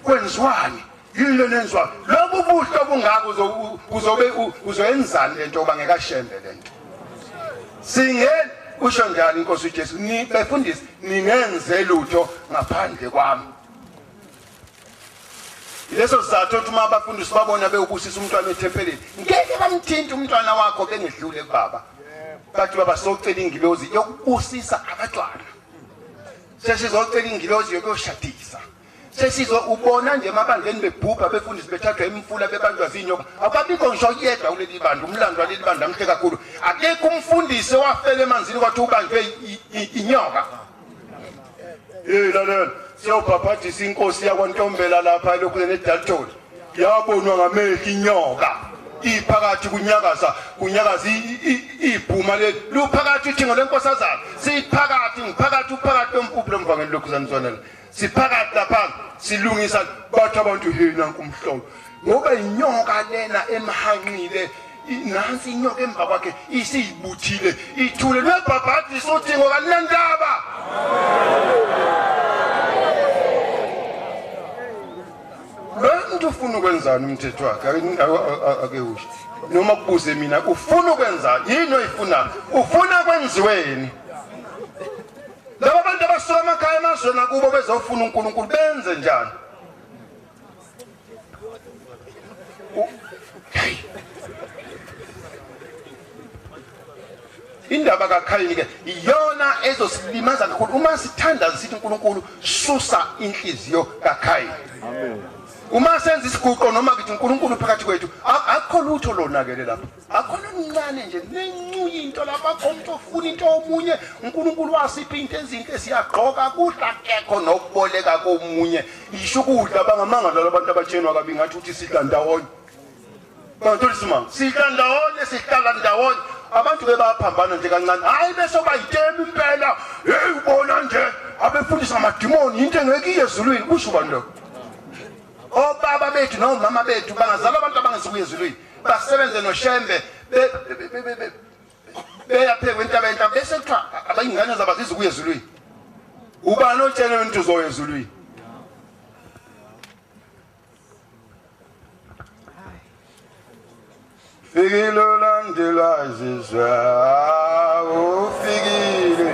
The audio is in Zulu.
kwenziwani yini lento enziwayo lobu buhle obungako uzobe uzoyenzani lento yoba ngekashembe lento singeni usho njani inkosi ujesu befundisi ningenze lutho ngaphandle kwami leso sizathu ukuthi uma abafundisi babona bewubusisa umntwana ethempelini ngeke bamthinte umntwana wakho bengedlule kubaba bathi baba socela ingilozi yokubusisa abantwana sesizocela ingilozi yokuyoshadisa sesizwa ubona nje emabandleni bebhubha befundisi bethathwa imfula bebanjwa zinyoka akabikho ngisho yedwa kuleli bandla umlando waleli bandla mhle kakhulu akekho umfundisi owafela emanzini kwathi ubanjwe inyoka hey lalela siyobhabhadisa inkosi yakwantombela lapha elokhu nedalton yabonwa ngamehlo inyoka iphakathi kunyakaza kunyakaza ibhuma leli luphakathi uthingo lenkosazana siphakathi ngiphakathi uphakathi kwempuphu lomvangeli lokhu zanizwanela siphakathi lapha silungisa bathi abantu hina nkumhlobo ngoba inyoka lena emhanqile nansi inyoka emva kwakhe isiyibuthile ithule lwebhabhadi sothi ngoba linendaba lento ufuna ukwenzani umthetho wakhe ake usho noma kubuze mina ufuna ukwenzani yini oyifunayo ufuna kwenziweni Laba bantu abasuka amakhaya emazweni akubo bezofuna uNkulunkulu benze njani? indaba kaKhayini ke iyona ezosilimaza kakhulu uma sithandaza sithi uNkulunkulu susa inhliziyo kaKhayini amen uma senza isiguqo noma kithi uNkulunkulu phakathi kwethu akukho lutho lonakele lapho akhona omncane nje nencuya into lapha khomntu ofuna into omunye uNkulunkulu wasipha into ezinhle siyagqoka kudla kekho nokuboleka komunye yisho ukudla bangamanga lalo abantu abatshenwa kabi ngathi uthi sidla ndawonye bantuli simanga sidla ndawonye sihlala ndawonye abantu bebaphambana nje kancane hayi bese bayitema impela hey ubona nje abefundisa amadimoni into engekiye ezulwini kusho ubani lokho obaba bethu nomama bethu bangazala abantu abangezikuye ezulwini basebenze noshembe beyaphekwa intaba entaba bese kuthiwa abayingane zabo azizi ukuya ezulwini ubani otshele umuntu uzoya ezulwini fikile ulandelwa izizwe ufikile